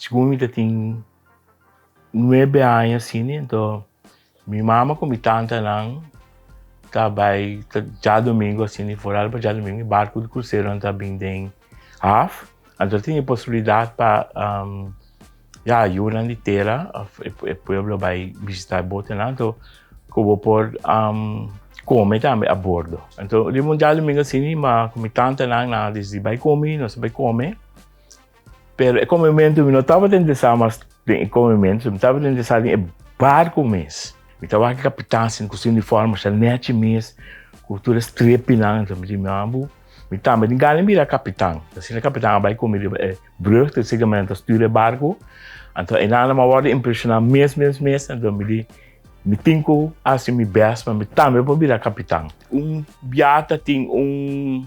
Segun mi ta tin nuebe aña asina anto mi mama ku mi tantanan ta bai ta djadumingu asina i for al pa djadumingu e barku di kruseronan ta bin den haf anto ta tin e posibilidat pa ya yunan di tera of e pueblo bai bishita e botenan anto ku bo por kome tambe a bordo anto riba un djadumingu asina mi mama ku mi tantanan nan a disidi bai komi nos a bai kome. Pero e come mento mi no tabata interesá mas den e come mento, mi tabata interesá den e barco mes. Mi ta wak e capitan sin cu su uniforme sha nechi mes cu tur e strepinan anto mi di mi abo, mi tambe tin gana di mira e capitan. Ta asina e capitan a bai cu mi riba e brug ta siga mi anto stuur e barco. Anto e nannan a wordo impresioná mes mes mes, anto mi di mi tin cu haci mi best pa mi tambe por bira capitan. Un biaha ta tin un.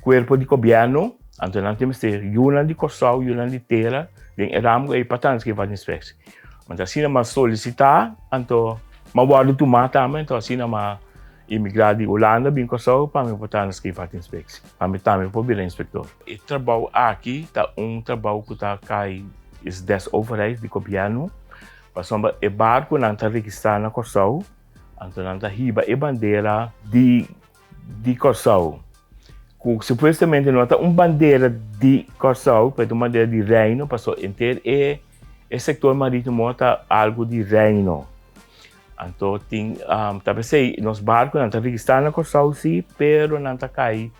Cuerpo di Gobierno, anto nan tin mester yunan di Costau, yunan di Tera den e ramo ey pa ta haci e Vaterinspectie. Anto asina m'a solicita, anto m'a wordo tuma tambe, anto asina m'a emigra di Hulanda bin Costau pa mi por ta haci e Vaterinspectie, pa mi tambe por bira inspector. E trabao aki ta un trabao cu ta cay is des overheid di Gobierno, pasobra e barconan ta registra na Costau, anto nan ta hiba e bandera di di Kòrsou, ku supuestamente no ta un bandera di Kòrsou, pero ta un bandera di Reino, paso enter e e sektor marítimo ta algu di Reino. Anto tin um, ta pesei nos barkunan ta registrá na Kòrsou sí, pero nan ta kai,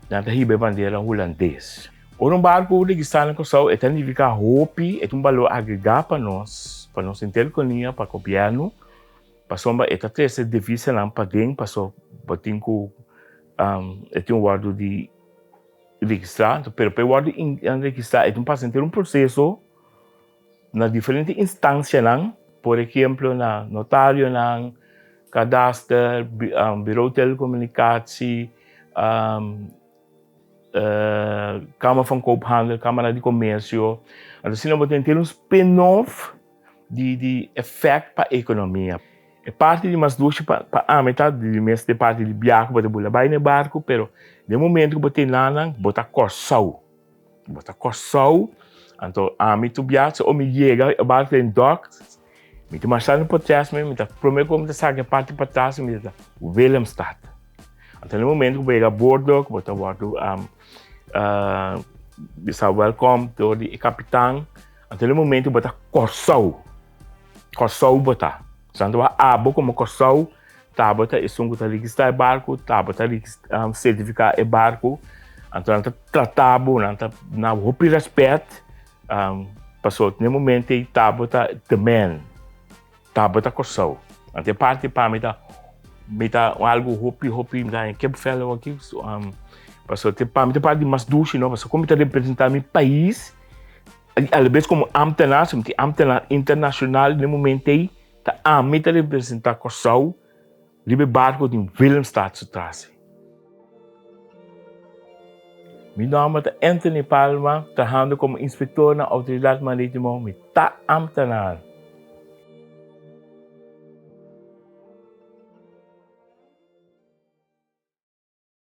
nan ta hiba e bandera hulandes. Ora un barku registrá na Kòrsou e ta nifiká hopi, e ta un balor agregá pa nos, pa nos interkonia, pa gobièrnu, Pasobra e ta trese divisanan paden paso bo tin ku e tin wòrdu di registrá. Pero pa e wòrdu registrá e tin pasa henter un proseso na diferente instansianan. Por ehemplo na notarionan, kadaster, birou telekomunikasje, kamer van koophandel, kamara di komersio. Asina bo tin henter un spin-off. di di efect pa economia. E parti di mas dushi pa pa ami ta di mes de parti di biaha cu bo ta bula bay ne barcu pero den momento cu bo tin la nan bo ta corsou bo ta corsou anto ami tu bia so o mi yega e barcu den dock mi ta marcha den potres me mi ta prome cosa mi ta saca e parti patras mi ta Willemstad anto den momento cu bo yega abordo cu bo ta wordo bisa welcome door di e capitan. Anto el momento bo ta kòrsou. Kòrsou bo ta. Santoa abo komo kòrsou tabata esun ku ta rigistrá e barku, tabata um, sertifiká e barku. Anto nan ta tratá bo, nan ta na hopi rèspèt. Um, paso den moment'ei tabata the man. Tabata Kòrsou, Ante e parti pa mi ta mi ta un algu hopi hopi graña kipvèl aki pasobra te pa mi te parti di mas dushi no pasobra kon mi ta representá mi pais i alabes komo ámtenar si mi tin ámtenar internashonal den moment'ei ta ami ta representá Kòrsou. Riba e barco tin Willemstad su trasi. Mi nomber ta Anthony Palma, trahando como inspector na Autoridad Maritimo, mi ta ambtenaar.